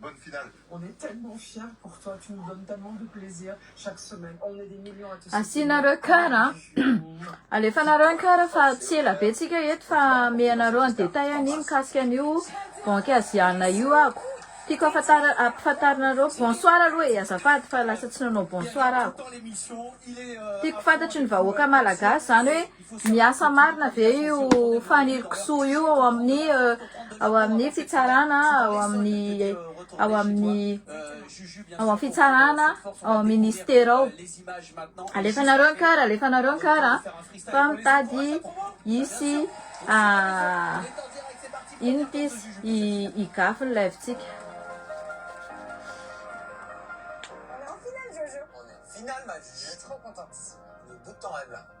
Bonne finale. On est tellement fière pour toi, tu nous donnes tellement de plaisir chaque semaine, on est des millions à te soutenir. Asianareo cœur a. Alefanareo ny cœur fa tsy ela be tsika eto fa ame anareo ny détail anie mikasika an'io banque asiana io ako. Tiako afatara ampafantarinareo bonsoir aloha e azafady fa lasa tsy nanao bonsoir ako. Tiako fantatry ny vahoaka malagasy zany hoe Miasa marina ve io fanirikisoa io ao amin'ny ao amin'ny fitsarana ao amin'ny ao amin'ny ao amin'ny fitsarana ao amin'ny ministera ao alefanareo ny kara alefanareo ny kara fa mitady hisy ah, ino pisy higafy ny live-tsika Finale, ma vie, je suis trop contente. Le bout de temps, elle.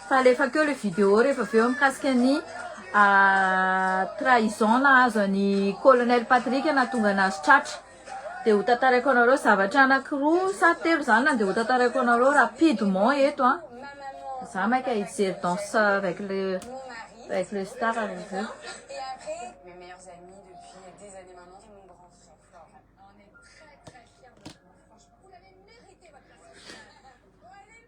Fa alefako eo le video rehefa avy eo mikasika ny trahison nahazo an'i Colonel Patrick nahatonga anazy tratra. Dia ho tantaraiko anareo zavatra anakiroa sa telo zany na dia ho tantaraiko anareo rapidement eto an. Za maika hijery danse avec le avec le star avy eo.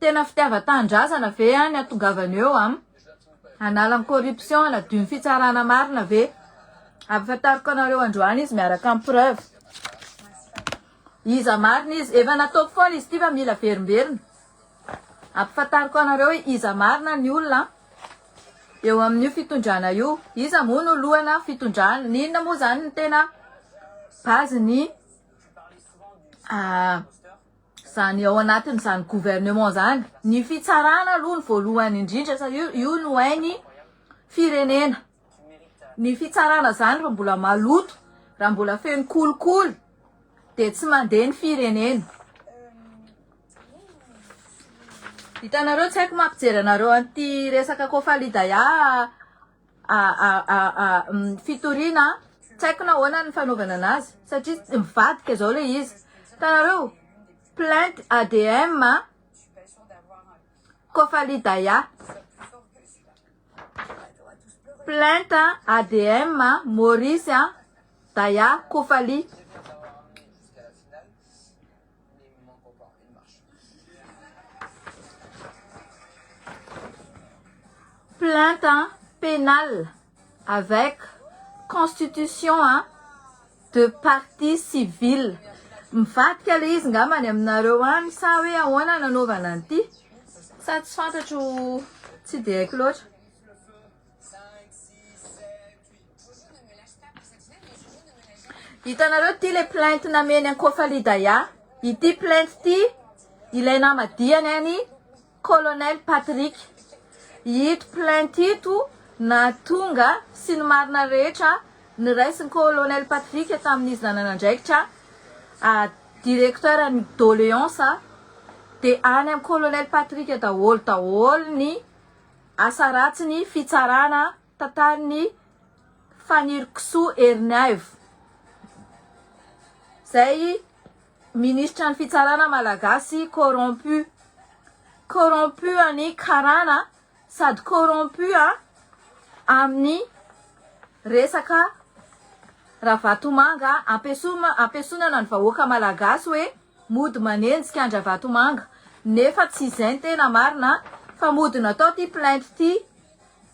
Tena fitiavan-tanindrazana ve an ny atongavana eo an? Hanala ny corruption hanadio ny fitsarana marina ve? Ampahafantariko anareo androany izy miaraka amin'ny preuve. Iza marina izy? Efa nataoko foana izy ity fa mila verimberina. Ampahafantariko anareo hoe iza marina ny olona eo amin'io fitondrana io. Iza moa no lohana fitondrana? N'inona moa izany ny tena base ny ah, izany ao anatin'izany gouvernement izany, ny fitsarana aloha ny voalohany indrindra sa io io no hainy firenena, ny fitsarana izany raha mbola maloto, raha mbola feno kolikoly dia tsy mandeha ny firenena. Hitanareo tsy haiko mampijery anareo an'ity resaka Kofalidaya fitoriana tsy haiko na ahoana ny fanaovana anazy satria tsy mivadika zao le izy tanareo plainte ADM Kofali Daya plainte ADM Maurice Daya Kofali Plainte penale avec constitution de parti civil. Mivadika le izy ngamba any aminareo any sa hoe ahoana nanaovana an'ity? Sa tsy fantatro tsy dia haiko loatra. Hitanareo ity le plainte nameny an Kofali Daya. Ity plainte ity ilay namadiany any Colonel Patrick. Ito plainte ito nahatonga sy ny marina rehetra niraisin'ny Colonel Patrick tamin'izy nananandraikitra ah, directeur ny doléance de any am Colonel Patrick daholo daholo ny asa ratsiny fitsarana Tantaran'i Fanirikisoa Ernaivo, izay Ministra ny Fitsarana Malagasy corrompu. Corrompu an'i Karana sady corrompu amin'ny resaka Ravatomanga ampiesonana ny vahoaka Malagasy hoe mody manenjika an-dRavatomanga nefa tsy izay ny tena marina fa mody natao ity plainte ity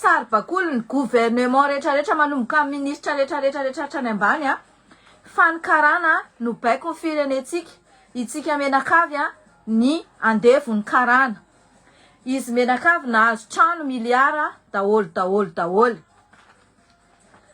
Saribakolin'ny gouvernement retraretra manomboka amin'ny ministra retraretra retra hatrany ambany a! Fa ny karana no baikon'ny firenentsika, itsika menakavy a! Ny andevon'ny karana. Izy menakavy nahazo trano miliara daholo daholo daholo.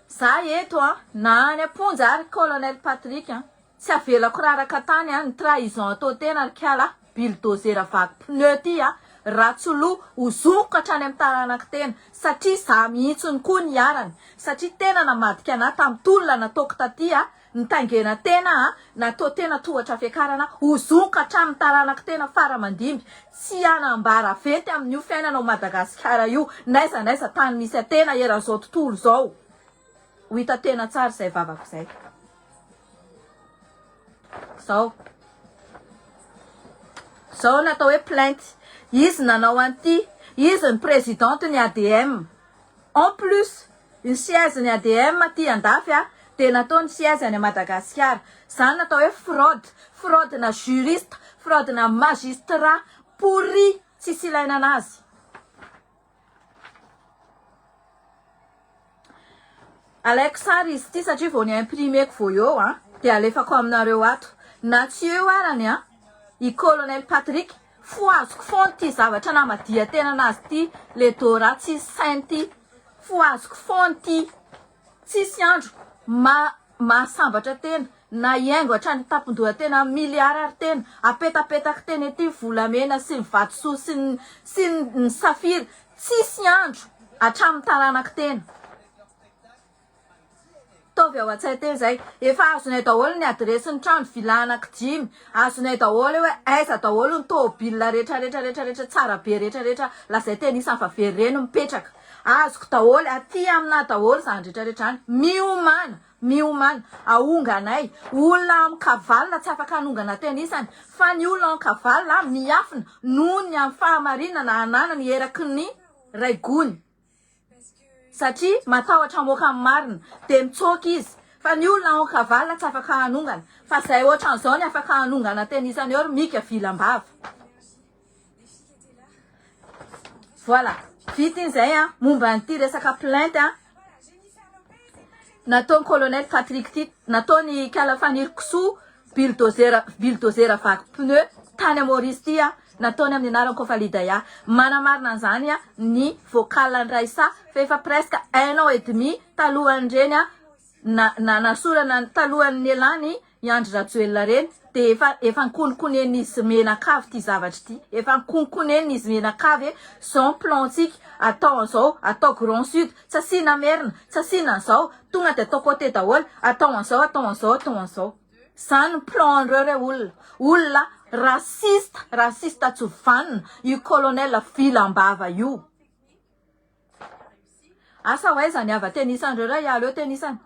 Za eto a! Na any am-ponja ary colonel Patrick a! Tsy avelako raraka tany a, ny trahison atao tena ry kala a, billdozera vaky pneu ty a, Ratsolo ho zokiko hatrany amin'ny taranako tena, satria izaho mihitsiny koa niharany, satria tena namadika anah tamin'ny tolona nataoko taty a, nitaingena tena a, natao tena tohatra fiakarana, ho zokiko hatramin'ny taranako tena fara aman-dimby, tsy hanambara venty amin'io fiainana ao Madagasikara io, n'aiza n'aiza tany misy atena eran'izao tontolo izao. Ho hita tena tsara izay vavako izay. Izao. Izao no atao hoe plainte. Izy nanao an'ity. Izy ny présidente ny ADM. En plus, ny siège ny ADM aty andafy a, dia nataony siège any Madagasikara. Izany no atao hoe fraude. Fraude na juriste, fraude na magistrat pourri, tsisy ilaina anazy. Alaiko sary izy ity satria vao ni imprimer-ko vao eo an, dia alefako aminareo ato. Na tsy eo arany an, i Colonel Patrick, fohaziko foana ity zavatra namadihan-tena anazy ity, le Dora tsy saint ity. Fohaziko foana ity. Tsisy andro maha mahasambatra tena na hiaingo hatrany tampon-doha tena miliara ary tena apetapetaky tena ity volamena sy ny vatosoa sy ny sy ny safira tsisy andro hatramin'ny taranaky tena taovy ao an-tsay tena izay efa azonay daholo ny adiresy ny trano villa anaky dimy azonay daholo eo hoe aiza daholo ny tôbila rehetra rehetra rehetra rehetra tsara be rehetra rehetra lazay tena isany fa very reny mipetraka Azoko daholo, aty aminà daholo zany retraretra any, miomàna, miomàna, ahonga anay, olona amin-kavalona tsy afaka hanongana tena isany, fa ny olona an-kavalona miafina noho ny amin'ny fahamarinana ananany eraky ny Raigony, satria matahotra hamoaka ny marina, dia mitsoaka izy, fa ny olona amin-kavalona tsy afaka hanongana, fa zay ohatran'izao ny afaka hanongana tena isany eo ry Mika vilam-bava. Voilà. Vita iny zay an, momba an'ity resaka plainte an. Nataon'ny colonel Patrick ity, nataon'ny Kala Faniry Kisoa bulldozer bulldozer vaky pneu tany amin'ny Maurice ity an, nataony amin'ny anaran'i Kofalidaya. Manamarina an'izany an ny vocal an'i Raissa fa efa presque un an et demi talohan'ireny an Na na nasorana talohan'ny nialany i Andry Rajoelina reny dia efa efa ankononkonen'izy menakavy ity zavatra ity efa ankononkonen'izy menakavy hoe zao ny plan tsika atao an'izao atao grand sud tsy asiana merina tsy asiana an'izao tonga dia atao cote daholo atao an'izao atao an'izao atao an'izao zany ny plan an'ireo re olona olona raciste raciste tsy vanona io colonel vilam-bava io Asa ho aiza ny hava tenisan'ireo raha hialeo tenisany?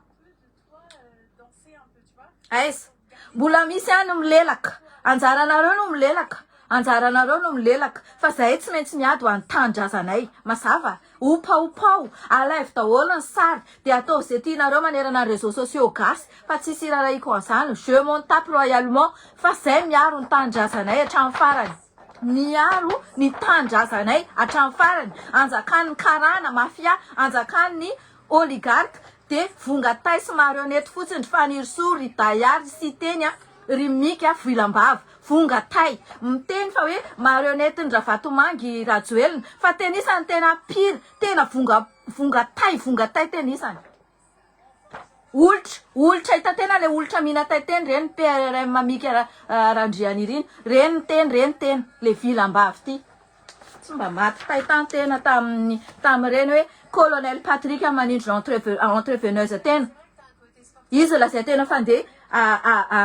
Aiza? Mbola misy ihany milelaka. Anjaranareo no milelaka. Anjaranareo no milelaka. Fa zahay tsy maintsy miady ho an'ny tanindrazanay. Mazava? Ompaompao. Alaivo daholo ny sary dia ataovy izay tianareo manerana ny réseaux sociaux gasy fa tsy hisy irarahiako an'izany. Je m'en tape royalement fa zahay miaro ny tanindrazanay hatramin'ny farany. Niaro ny tanindrazanay hatramin'ny farany, anjakan'ny karana, mafia, anjakan'ny oligarque, de vonga tay sy marionnette fotsiny ry Fanirisoa, ry Daya, ry Siteny a, ry Mika voilambava, vonga tay, miteny fa hoe marionnette n'i Ravatomanga i Rajoelina, fa tenisany tena pire, tena vonga, vonga tay, vonga tay tenisany. Olitra, olitra hitan-tena ilay olitra mihina tintely ireny ny PRRM Mika Randrianirina. Ireny ny teny, ireny ny teny, ilay vilam-bava ity. Tsy mba maty fahitantena tamin'ny tamin'ireny hoe colonel Patrick manindry entrepreneurs tena. Izy lazain-tena fa andeha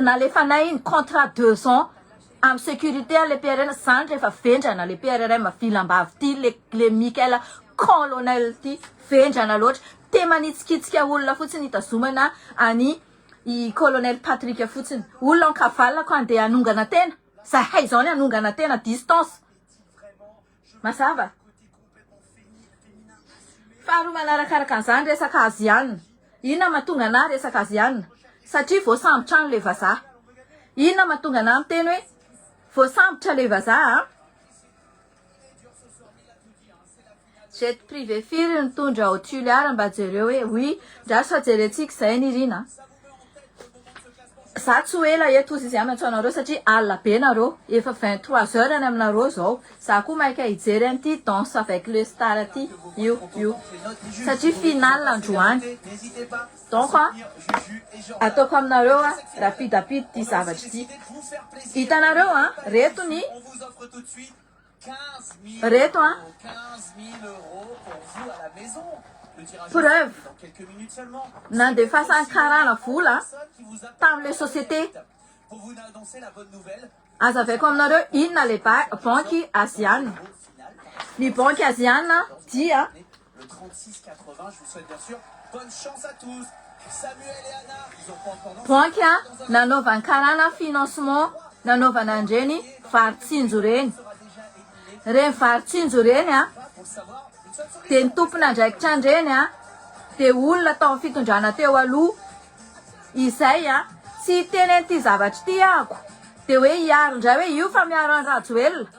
Nalefanay ny contrat deux ans am securite an le PRN zany refa vendrana le PRRM vilambavy ty le le Michael colonel ty vendrana loatra te manitsikitsika olona fotsiny hitazomana any i colonel Patrick fotsiny olona ankavalona ko andeha hanongana tena zahay zao ny hanongana tena distance Mazava. Faharoa manarakaraka an'izany resaka Aziana. Inona mahatonga anah resaka Aziana? Satria voasambotra any ilay vazaha. Inona mahatonga anah miteny hoe voasambotra ilay vazaha an? Jet privé firy nitondra ao Toliara mba jereo hoe oui, ndraso fa jerentsika izay nirina a. Za tsy ho ela eto ozy zay amin-tsao nareo satria alina be nareo, efa vingt trois heures any aminareo zao, za koa maika hijery an'ity danse avec le star ty io io satria finale androany, donc an ataoko aminareo an rapide rapide ty zavatra ty, hitanareo an reto ny. Reto an. Preuve. Nandefasan'ny karana vola tamin'ilay société. Azavaiko aminareo inona ilay banky aziana. Ny banky aziana dia Le 36 80 je vous souhaite bien sur bonne chance à tous Samuel et Anna ils ont pas encore lancé Donc a, nanaovan karana financement nanaovana an'ireny vary tsinjo ireny. Ireny vary tsinjo ireny a, dia ny tompon'andraikitra an'ireny a, dia olona tao amin'ny fitondrana teo aloha. Izay a, tsy hiteny an'ity zavatra ity aho ko, dia hoe hiaro indray hoe io fa miaro an'i Rajoelina.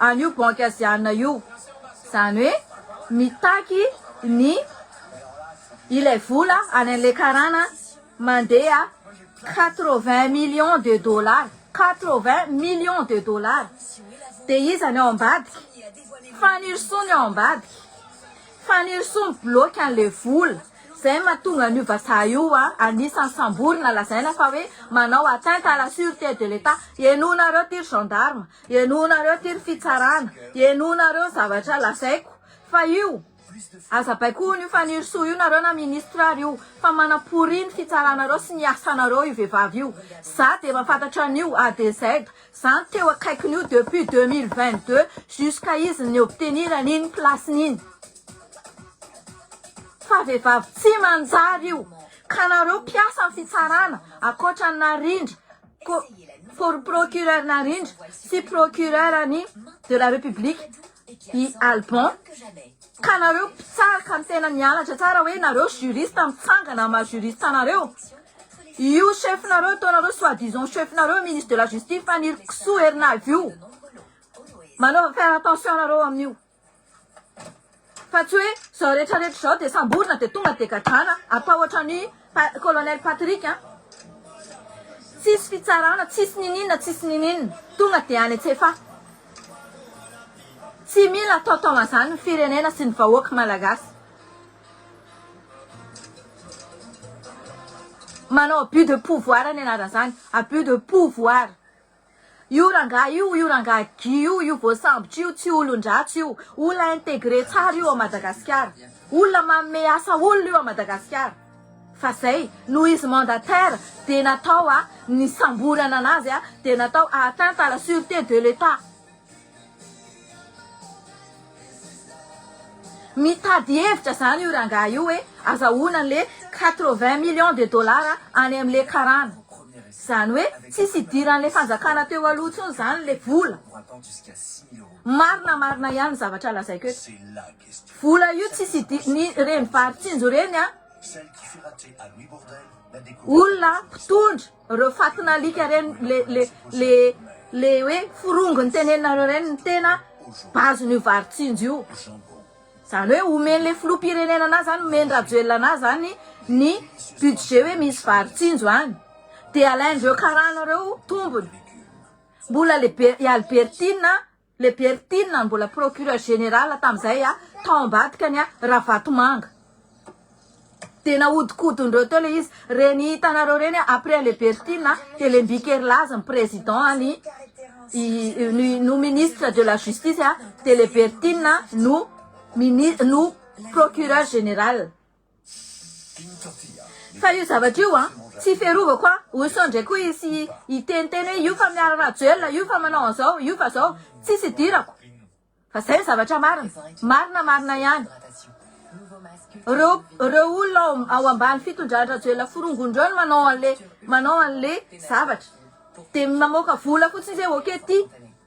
an'io banky aziana io, izany hoe mitaky ny ilay vola any an'ilay karana mandeha quatre-vingts millions de dollars, quatre-vingts millions de dollars, dia iza ny ao ambadika? Fanirisoa ny ao ambadika, Fanirisoa mibloky an'ilay vola, izay no mahatonga an'io vazaha io anisan'ny samborina lazaina fa hoe manao atteinte à la surete de l'Etat, henoinareo ity ry gendarme, Henoinareo ty ry fitsarana, henoinareo zavatra lazaiko fa io aza baikoin io Fanirisoa io nareo na ministre ary io fa manaporia ny fitsaranareo sy ny asanareo io vevavy io za de mafantatra anio A de Z za no teo akaikiny io depuis deux mille vingt deux jusqu'à izy ni obtenirany iny place ny iny fa vevavy tsy manjary io ka nareo mpiasa ny fitsarana akoatra ny narindra Ko procureur Narindra sy procureur ny de la republique i Alban ka nareo mpitsara ka tena nianatra tsara hoe nareo juriste mitsangana maha juriste anareo io chef nareo ataonareo soit disant chef nareo ministre de la justice Fanirikisoa Erinaivo io manaova faire attention nareo amin'io Fa tsy hoe izao rehetra rehetra izao dia samborina dia tonga dia gadrana atao ohatran'i colonel Patrick an! Tsisy fitsarana, tsisy niniana, tsisy niniana, tonga dia any an-tsefa. Tsy mila atao taoman'izany ny firenena sy ny vahoaka malagasy. Manao abus de pouvoir ny anaran'izany, abus de pouvoir. Io rangahy io, io rangahy Guy io, io voasambotra io tsy olon-dratsy io, olona integre tsara io ao Madagasikara, olona manome asa olona io ao Madagasikara, fa zay noho izy mandataire dia natao a, nisamborana anazy a, dia natao a atteinte à la surete de l'Etat. Mitady hevitra zany io rangahy io hoe azahoana anle quatre vingt millions de dollars any amle karana. Zany hoe tsisy hidiranle fanjakana teo aloha tsony zany le vola. Marina marina ihany ny zavatra lazaiko eto. Vola io tsisy hidiran ny reny Varitsinjo reny an olona mpitondra. Reo fatina alika reny le le le le hoe forongo niteneninareo reny ny tena base n'io vary tsinjo io zany hoe omen'le filoham-pirenena anah zany omen'i rajoelina anah zany ny budget hoe misy vary tsinjo any de alain'reo karana reo tombony mbola le be i albertine Le Berthine mbola procureur général tamzay a tao ambadikany a Ravatomanga de nahodikodinreo teo le izy reny hitanareo reny a après le Berthine a de le Mbikerilaza ny président a ny no ministre de la justice a de le Berthine no mini no procureur général. Fa io zavatra io an, tsy fiarovako an, oso ndray koa hisy hiteniteny hoe io fa miaro Rajoelina, io fa manao an'izao, io fa zao. Tsisy idirako. Fa zay ny zavatra marina. Marina marina ihany. Reo reo olona ao ao ambany fitondran-dRajoelina forongony reo no manao an'le manao an'le zavatra. De mamoaka vola fotsiny zay ok ty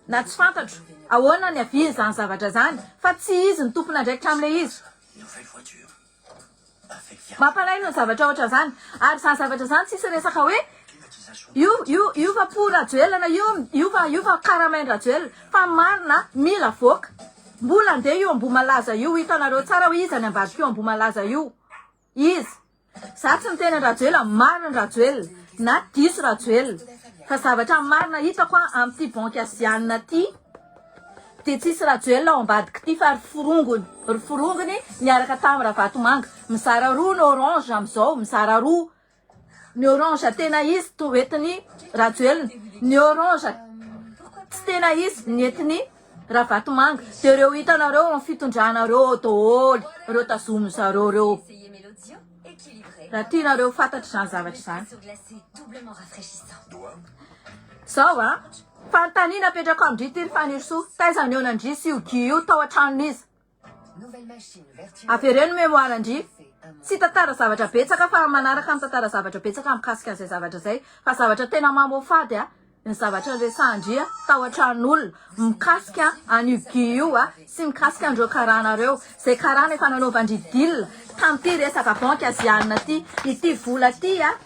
na tsy fantatro ahoana ny aviany zany zavatra zany fa tsy izy no tompon'andraikitra am'le izy. nouvelle voiture avec viagra. Mampalaelo ny zavatra ohatran'izany. Ary izany zavatra izany tsisy resaka hoe io io io va po rajoelina io io va io va karamain drajoelina fa ny marina mila avoaka. Mbola andeha io ambohimalaza io hitanareo tsara hoe iza ny ambadika io ambohimalaza io. Iza. Za tsy miteny an-drajoelina, marina rajoelina na diso rajoelina fa zavatra marina hitako an amin'ity banky azianina ity dia tsisy rajoelina ao ambadik'ity fa ry forongony ry forongony niaraka tamin'ny ravatomanga mizara roa ny orange amin'izao mizara roa ny orange tena izy to entin'ny rajoelina ny orange tsy tena izy ny entin'ny Ravatomanga, de reo hitanareo am fitondrana reo doholy reo tazomin zareo reo ra tianareo fatatra zany zavatra zany zao a fantanina apetrako amindry ity ry fanirisoa taiza ny eo nandrisy io gy io tao an-tranon'iza Avereno mémoire ndry. Tsy tantara zavatra betsaka fa manaraka mitantara zavatra betsaka mikasika an'izay zavatra izay fa zavatra tena mamoafady a ny zavatra niresahan-dry a tao an-tranon'olona mikasika an'io Guy io a sy mikasika an'ireo karana ireo izay karana efa nanaovan-dry deal tamin'ity resaka banky azianina ity ity vola ity a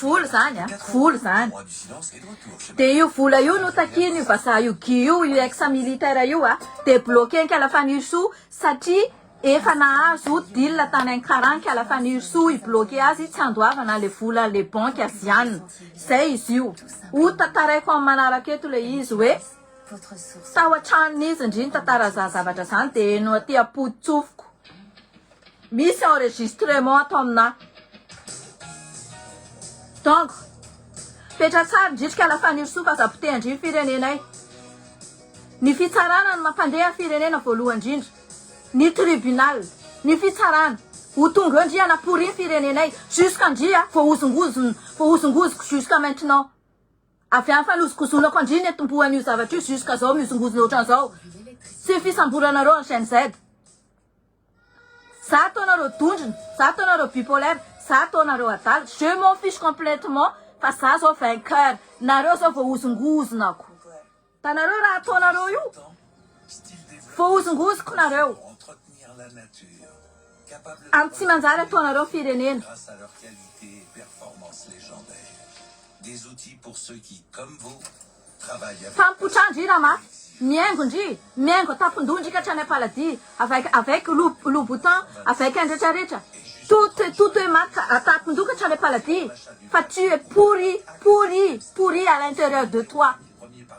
Vola zany a! Vola zany! De io vola io no takian'io vazaha io Guy io, io ex militaire io a! De bloquer ankala Fanirisoa satria efa nahazo deal tany Ankara ankala Fanirisoa hi-bloquer azy tsy handoavana le vola le banky Aziana. Zay izy io. Ho tantaraiko amin'ny manaraka eto le izy hoe tao an-tranon'izy ndry nitantara an'izany zavatra zany de heno aty am-podi-tsofiko. Misy enregistrement ato aminà dongo. Petra tsara indrindra kala Fanirisoa fa aza potehan-dry ny firenenay. Ny fitsarana no mampandeha firenena voalohany indrindra. Ny tribunal, ny fitsarana. Ho tonga eo ndry hanaporian firenenay. Jusqu'à ndry a, voahozongozona, voahozongozoko jusqu'à maintenant. Avy any fanozongozonako an-dry niantombohan' io zavatra io jusqu'à zao mihozongozona ohatran'izao. Tsy ny fisamboranareo ny GNZ. Za ataonao reo dondrona, za ataonao reo bipolaire, za ataonao reo adala, je m'en fiche complètement fa za zao vainqueur, nareo zao voahozongozonako, da nareo raha ataonareo io voahozongozoko nareo am tsy manjary ataonareo ny firenena. Tampotra ndry rama, mihaingo ndry, mihaingo tampondondry ka hatrany ampaladia, avec avec loub louboutin, avec un retraretra, tout tout est mat tampon-doha ka hatrany ampaladia, fa tu es pourri, pourri, pourri à l'intérieur de toi,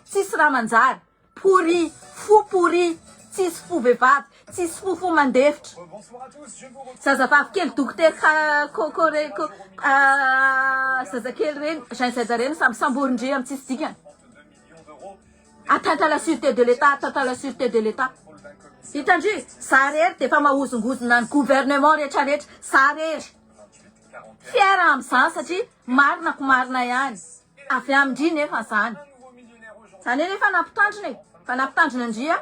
tsisy raha manjary, pourri, fou pourri, tsisy fo vehivavy, Tsisy fo fo mandefitra. Zazavavy kely dokotera ka ko ko re ko ah zazakely reny jean zay zareny samy samborin-dry amin'ny tsisy dikany. Atteinte à la sûreté de l'État, atteinte à la sûreté de l'État. Hitan-dry, za rery dia efa mahozongozona ny gouvernement rehetra rehetra, za rery fier amin'izany satria marina ko marina ihany, avy amin-dry nefa zany. Zany anie efa nampitandrina e, efa nampitandrina an-dry an.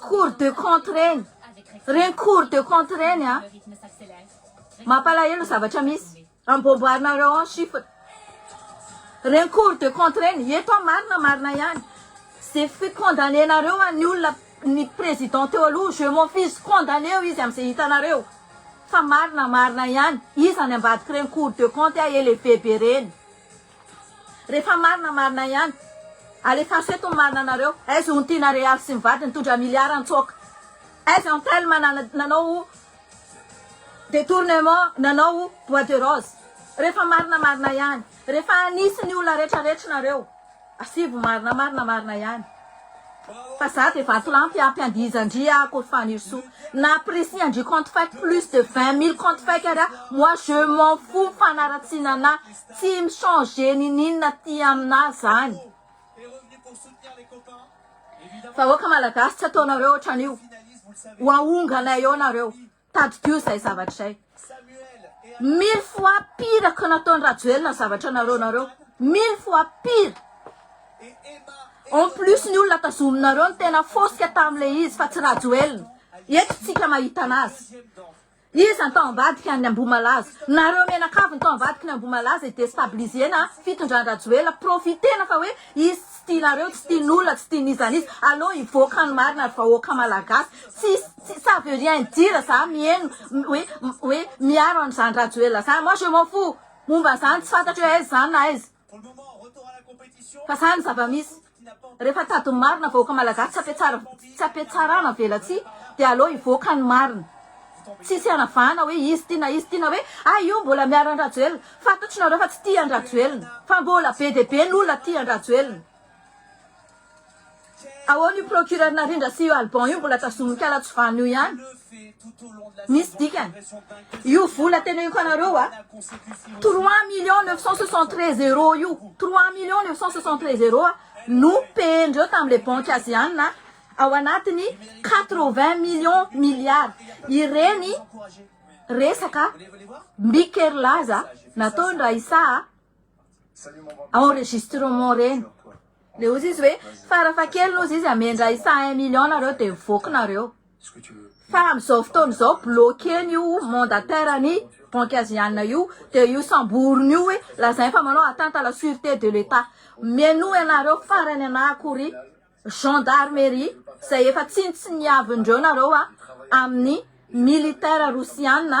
Cours de compte reny. Reny cours de compte reny a. Mampalahelo zavatra misy. Amboamboarinareo ao ny chiffre. Reny cours de compte reny. Eto aho marina marina ihany. Ze fi condamné nareo an'ny olona ny président teo aloha je m'en fiche condamné-o izy amin'izay hitanareo. Fa marina marina ihany. Iza any ambadik'ireny cours de compte a élevé be reny. Rehefa marina marina ihany. Alefaso eto ny marina anareo. Aiza hono Tiana Real sy ny vadiny nitondra milliard nitsoaka. Aiza Antelme nanao detournement nanao bois de rose. Rehefa marina marina ihany. Rehefa anisy ny olona rehetra rehetra nareo. Asivo marina marina marina ihany. Fa za de vatolampy ampy andihizandria aho akory Fanirisoa. Na précis andrio compte fake plus de vingt mille compte fake ary aho moi je m'en fous fanaratsiana anah. Tsy mi changer ninin aty amina zany. Vahoaka malagasy tsy ataonareo otranio oahongana eo nareo tadidio izay zavatra izay mille fois pire ko nataony rajoelina zavatra nareo nareo mille fois pire en plus ny olona tazominareo ny tena fosika tamle izy fa tsy rajoelina eto tsika mahita anazy Iza ny tao ambadiky ny Ambohimalaza? Nareo mianakavy ny tao ambadiky ny Ambohimalaza e destabiliser-na fitondran-dRajoelina, profiter-na fa hoe izy tsy tianareo, tsy tian'olona, tsy tian'izan'iza, aleo hivoaka ny marina ry vahoaka Malagasy, tsisy, ça veut rien dire za mieno hoe, hoe miaro an'izany Rajoelina zany, moi je m'en fous momba zany, tsy fantatro hoe aiza zany na aiza. Fa zany ny zava-misy. Rehefa tady ny marina vahoaka malagasy tsy ampiatsara tsy ampiatsarana velatsihy dia aleo hivoaka ny marina. Tsisy hanavahana hoe izy ty na izy ty na hoe ah io mbola miaro an-drajoelina. Fantatr'nareo fa tsy tia an-drajoelina. Fa mbola be dia be ny olona tia an-drajoelina. Ahoana io procureur Narindra sy io Alban io mbola tazonin'ny ala tsy vanona io ihany? Misy dikany. Io vola teneniko anareo a, 3 millions 973 euros io, 3 millions 973 euros no payer-ndreo tamin'ilay banky azianina ao anatin'ny 80 millions milliards. Ireny resaka mby kerilaza nataon-dRaissa enregistrement reny le ozy izy hoe farafahakeliny ozy izy amendra isa un million nareo de voky nareo fa amizao fotoana izao bloqueny io mandataire ny banque aziana io de io samboriny io hoe lazainy fa manao atteinte à la surete de l'etat mihainoa ianareo farany ana akory gendarmerie izay efa tsinontsiniavin'ireo nareo a amin'ny militaire rosiana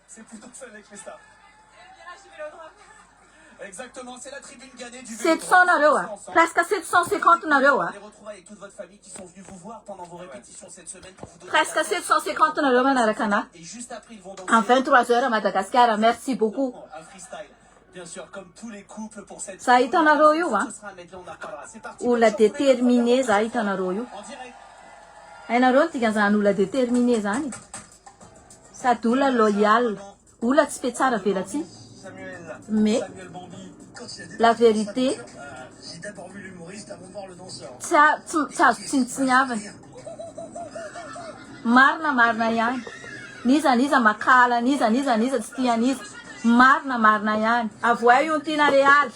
Sept cents nareo a! Presque sept cent cinquante nareo a! Presque sept cent cinquante nareo manaraka anah. En vingt trois heures à Madagascar, merci beaucoup. Za hitanareo io a! Olona determine za hitanareo io. Hainareo ny dikan'izany olona determine zany e! Sady ola loyal, ola tsy petsara velatsihy mais la vérité tsy tsy azo tsinontsiniavina. Marina marina ihany. N'iza n'iza makahala an'iza n'iza n'iza tsy tia an'iza. Marina marina ihany. Avohay io ntiana Real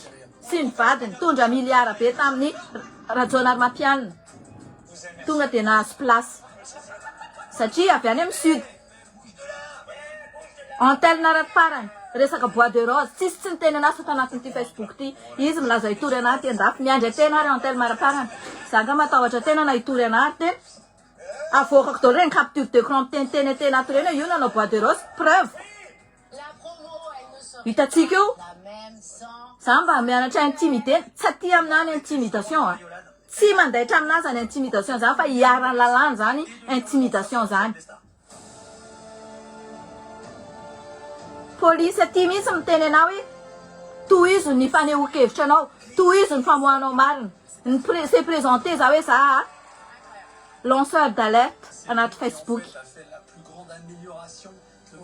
sy ny vadiny tondra miliara be tamin'ny Rajaonarimampianina. Tonga dia nahazo place satria avy any amin'ny sud. Antelina raha ny farany, resaka bois de rose, tsisy tsy niteny an'ahy fa tanatin'ity Facebook ity. Izy milaza hitory an'ahy aty an-dafy. Miandry an-tena ary Antelma raha farany. Za nga matahotra tena na hitory an'ahy ary tena avoakako daholo ireny capture d'ecran miteniteny an-tena ato ireny hoe io nanao bois de rose, preuve. Hitantsika eo. Za mba mianatra intimidé, tsy aty aminà ny intimidation a. Tsy mandaitra aminà zany intimidation zany fa iharan'ny lalàna zany intimidation zany. Polisy aty mihitsy miteny anao hoe tohizo ny fanehoan-kevitra anao, tohizo ny famoahanao marina. Ny pre- se présenter za hoe za lanceur d'alerte anaty Facebook.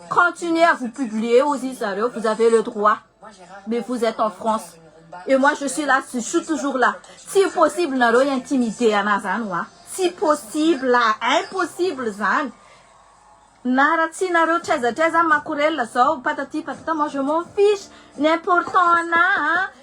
Continuez à vous publier hozy izy zareo, vous avez le droit mais vous etes en France et moi je suis là, je suis toujours là, tsy possible nareo hi-intimider anah zany hoa, tsy possible, impossible zany, na raha tsy nareo traiza traiza makorel zao patati patata moi je m'en fiche, ny important anah an!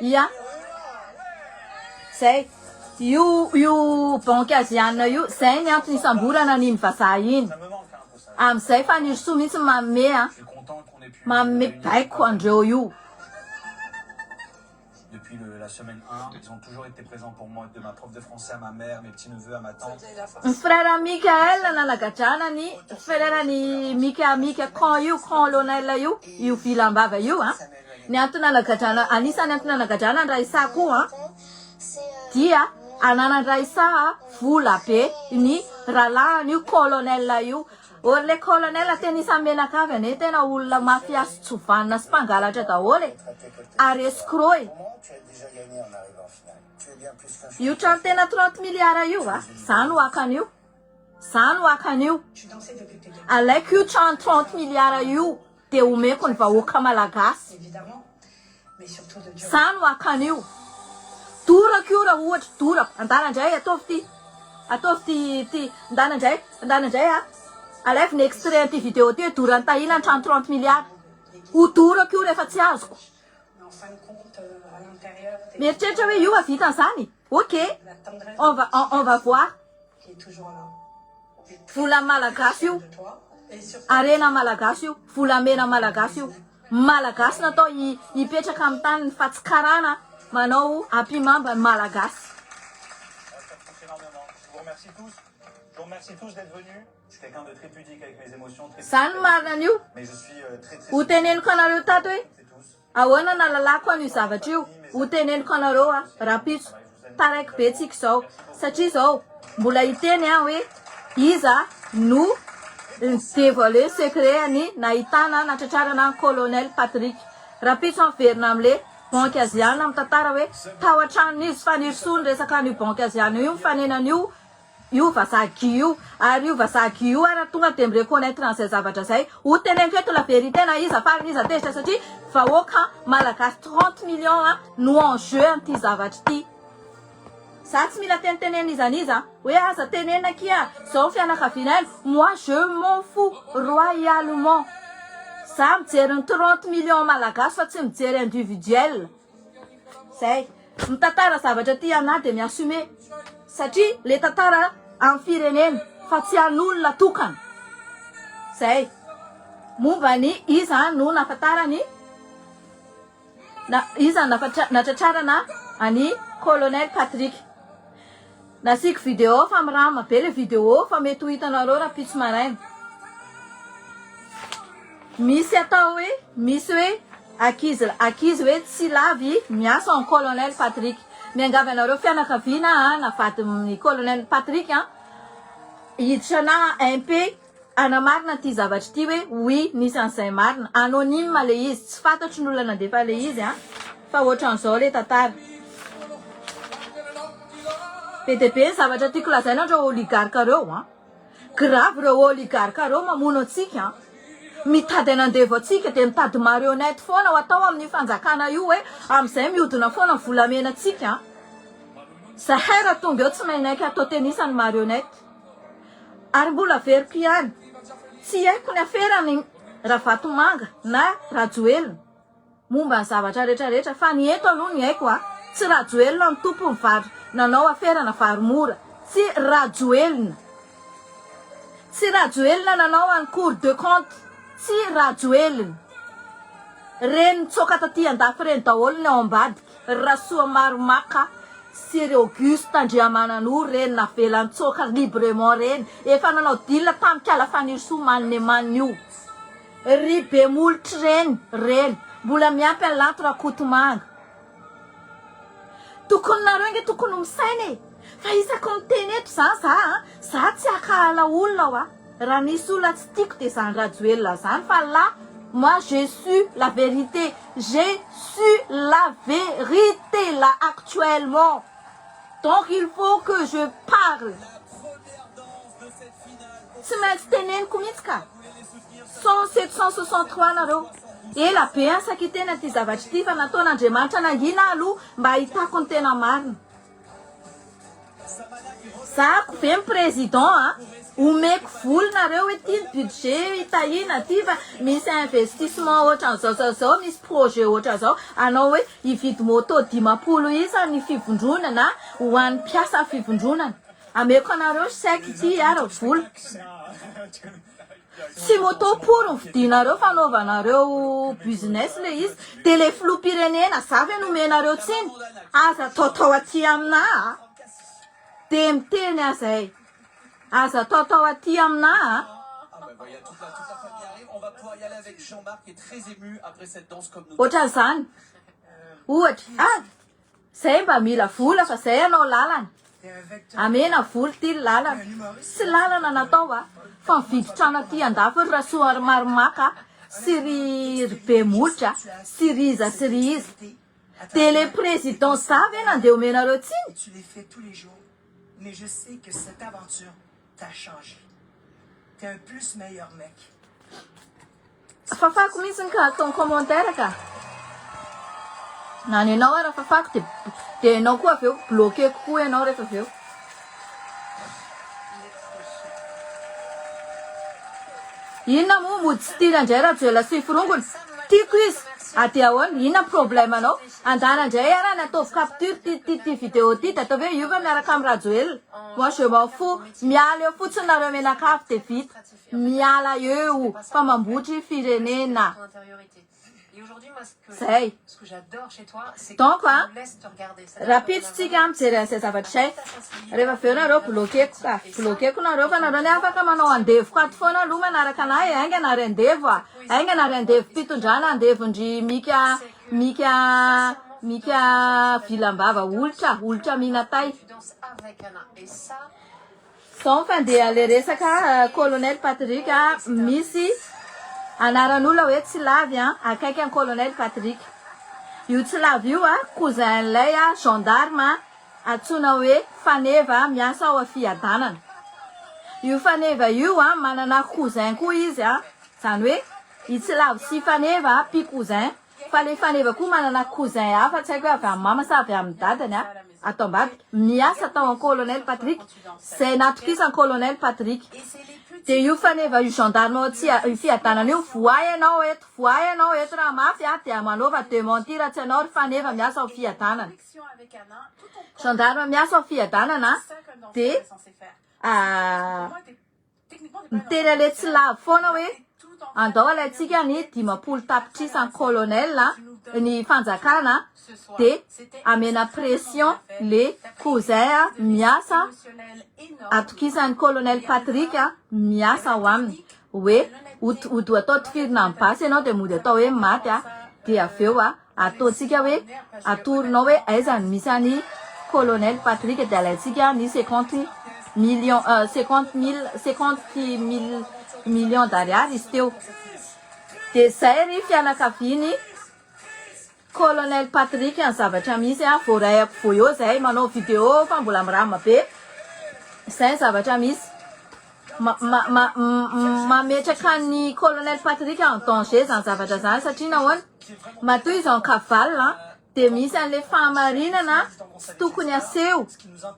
Ia? Zay. Io io banque asiana io, zay ny antony isamborana an'iny vazaha iny. Amin'izay Fanirisoa mihitsy no manome a. Manome baiko andreo io. Depuis le la semaine un ils ont toujours été présent pour moi de ma prof de français à ma mère mes petits neveux à ma tante. Ny frère Mickaël nanagadrana ny frère ny Mika Mika cran io cran Lonel io io vilam-bava io a. Ny antony hanagadrana, anisan'ny antony hanagadrana ny Raisa koa dia ananan'ny Raisa vola be ny rahalahin'io colonel io. Or le colonel tena isan'ny menakavy anie tena olona mafia sy tsy vanona sy mpangalatra daholo e! ary escroc e! Io trano tena trente milliards io a! za no haka an'io, za no haka an'io, alaiko io trano trente milliards io! Dia omeko ny vahoaka malagasy. Za no haka an'io. Dorako io raha ohatra, dorako. Andana indray, ataovy ity. Ataovy ity, ity. Andana indray, andana indray a. Alaivo ny extrait an'ity video ity hoe doran'i Tahina ny trano trente milliards. Ho dorako io rehefa tsy azoko. Mieritreritra hoe io hahavita an'izany? Ok, on va on va voir. Vola malagasy io, harena malagasy io, volamena malagasy io. Malagasy natao hipetraka amin'ny taniny fa tsy karana manao ampimamba ny malagasy. Zany marina an'io. Hoteneniko anareo tato hoe. Ahoana nahalalako an'io zavatra io? Ho teneniko anareo aho rahampitso, taraiky be tsiky izao, satria izao mbola hiteny aho hoe iza no ni-devoiler secret an'i nahitana natratrarana an'i Colonel Patrick. Rahampitso miverina amin'le banky aziana mitantara hoe tao an-tranon'izy Fanirisoa niresaka an'io banky aziana io mifanena an'io io vazaha Guy io ary io vazaha Guy io ary tonga dia mi-reconnaitre an'izay zavatra izay ho teneniko eto la vérité na iza farany iza tezitra satria vahoaka malagasy trente millions no en jeu amin'ity zavatra ity za tsy mila tenitenena iza n'iza hoe aza tenenina akia zao ny fianakaviana any moi je m'en fous royalement za mijery ny trente millions malagasy fa tsy mijery individuel Zay. Mitantara zavatra tia anah de mi assumer satria le tantara an'ny firenena fa tsy an'olona tokana. Zay. Momba ny iza no nafatarany na iza no natratrarana an'i Colonel Patrick. Nasiako video fa mirama be le video fa mety ho hitanareo rapitso maraina. Misy atao hoe misy hoe akizy akizy hoe tsy lavy miasa en colonel Patrick. Miangavy anareo fianakaviana na vadin'ny colonel Patrick hiditra na MP Hanamarina ity zavatra ity hoe oui nisy an'izay marina. Anonyme le izy, tsy fantatro ny olona nandefa le izy a! Fa ohatran'izao le tantara. Be dia be ny zavatra tiako lazaina an'ireo oligarque ireo a! Grave ireo oligarque ireo mamono antsika a! Mitady hanandevo antsika dia mitady marionnette foana ho atao amin'io fanjakana io hoe amin'izay mihodina foana ny volamenantsika a! Zahay raha tonga eo tsy maimaika atao tennis ny marionnette. Ary mbola averiko ihany, tsy haiko ny aferan'i Ravatomanga na Rajoelina momba ny zavatra rehetra rehetra fa ny eto aloha ny haiko a, tsy Rajoelina no tompon'ny vary nanao aferana vary mora, tsy Rajoelina, tsy Rajoelina nanao an'i cour de compte, tsy Rajoelina, reny nitsoaka taty andafy reny daholo ny ao ambady. Rasoamarimaka sy ry Auguste Andriamananoro reny navelan-tsoaka librement reny efa nanao deal tamikala Fanirisoa Maneman io ry Bemolotry reny reny mbola miampy an'i Lanto Rakotomanga tokony nareo nge tokony misaina e fa isaky miteny eto za za za tsy akala olona wa Raha misy olona tsy tiako dia zany Rajoelina zany fa là moi je su la vérité j'ai su la vérité là actuellement donc il faut que je parle tsy maintsy teneniko mihitsy ka cent sept cent soixante trois nareo ela be an sakiteny aty zavatra ity fa nataon'Andriamanitra nangina aloha mba hahitako ny tena marina Zahako ve ny président a! Omeko vola nareo hoe ty ny budget hitahiana ty fa misy investissement ohatran'izao zao zao misy projet ohatran'izao anao hoe hividy moto dimampolo isa ny fivondronana ho an'ny mpiasan'ny fivondronana ameko anareo chèque ty ary vola Tsy moto pory ny vidinareo fanaovanareo business le izy de le filoha pirenena za ve nomenareo tsiny aza taotao aty amina a de miteny aza e aza taotao aty amina a Ohatran'izany. Ohatra. Ah. Zay mba mila vola fa zay anao lalana amena vola ty lalana tsy lalana natao va fa mividy trano aty andafy ry rasoa ry marimaka sy ry ry be molotra sy ry iza sy ry iza de le président za ve nandeha omenareo tsiny Fafako mintsiny ka atao commentaire ka. Na ny anao ara fafako de de enao koa avy eo bloqueko koa enao rehefa avy eo. Inona moa mody tsy tiana indray Rajoelina sy forongony? Tiako izy. A dia ahoana? Inona problème anao? Andana indray ara nataovy capture ty ty ty vidéo ty de ataovy hoe hiova miaraka amin'i Rajoelina. Moi je m'en fous. Miala eo fotsiny nareo menakavy de vita. Miala eo fa mambotry firenena zay. Donc a, rahampitso tsika mijery an'izay zavatra izay. Rehefa avy eo nareo bloquer-ko ka. Bloquer-ko nareo fa nareo anie afaka manao andevoko ato foana aloha manaraka anah e. Haingana ary andevo a. Haingana ary andevom-pitondrana, andevon-dry Mika, Mika, Mika vilam-bava olitra, olitra mihinatay. Zao fa ndeha le resaka colonel Patrick a, misy anaran'olona hoe Tsilavy a, akaiky an'i colonel Patrick. Io Tsilavy io a, cousin-n'ilay a gendarme antsoina hoe Faneva miasa ao Fiadanana. Io Faneva io a, manana cousin koa izy a, zany hoe i Tsilavy sy Faneva a, pi-cousins. Fa le faneva koa manana cousin hafa tsy haiko hoe avy amin'ny mama sa avy amin'ny dadany a, ato ambadika, miasa tao an colonel Patrick, zay natokisan colonel Patrick. Dia io faneva io gendarme ao tsy io fiadanana io, voay ianao eto, voay ianao eto raha mafy a, dia manaova dementie raha tsy ianao ry faneva miasa ao fiadanana. Gendarme miasa ao fiadanana dia Niteny aleha tsy lavo foana hoe andao alaintsika ny dimampolo tapitrisa ny colonel ny fanjakana de amena pression le cousin miasa atokisany colonel Patrick miasa ao aminy hoe ho ho atao tifirina amin'ny basy ianao de mody atao hoe maty dia avy eo Ataontsika hoe atoronao hoe aiza no misy an'i Colonel Patrick dia alaintsika ny cinquante millions cinquante mille cinquante mille millions d'ariary izy teo. Dia izay ry fianakavian'i Colonel Patrick ny zavatra misy a! Voaray ako voyau izay manao video fa mbola miramma be. Izay ny zavatra misy. Ma, ma, ma, mametraka an'i Colonel Patrick en danger izany zavatra izany satria nahoana? Matoa izy en cavale an, dia misy an'ilay fahamarinana tsy tokony haseho,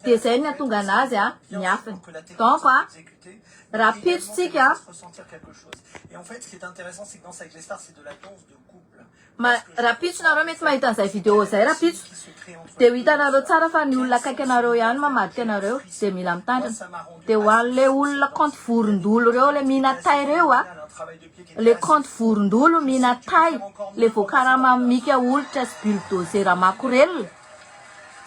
dia izay no hatonga anazy an, miafina. Donc an, rahampitso tsika an. Ma, rapitso nareo mety mahita an'izay video zay rapitso de ho hitanareo tsara fa ny olona akaiky anareo ihany mamadika anareo de mila mitandrina de ho an'le olona compte vorondolo reo le mihina tay reo a le compte vorondolo mihina tay le voakarama am mika olitra sy bulldozera makorelina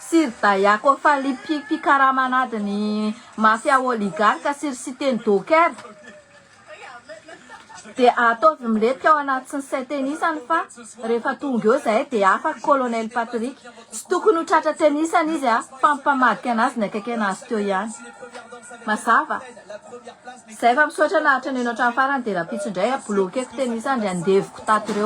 sy ry dayako fally mpi mpikarama anadin'ny mafia oligarque sy ry siteny docker Dia ataovy milentika ao anaty tsy nisy tenisany fa rehefa tonga eo zahay dia afaka Colonel Patrick. Tsy tokony ho tratra tenisany izy a! Fa mipamadika anazy ny akaiky anazy teo ihany. Mazava? Zay fa misaotra naharitra neno hatramin'ny farany dia rahampitso indray a bloqueko tenisany ry andevoko tato reo.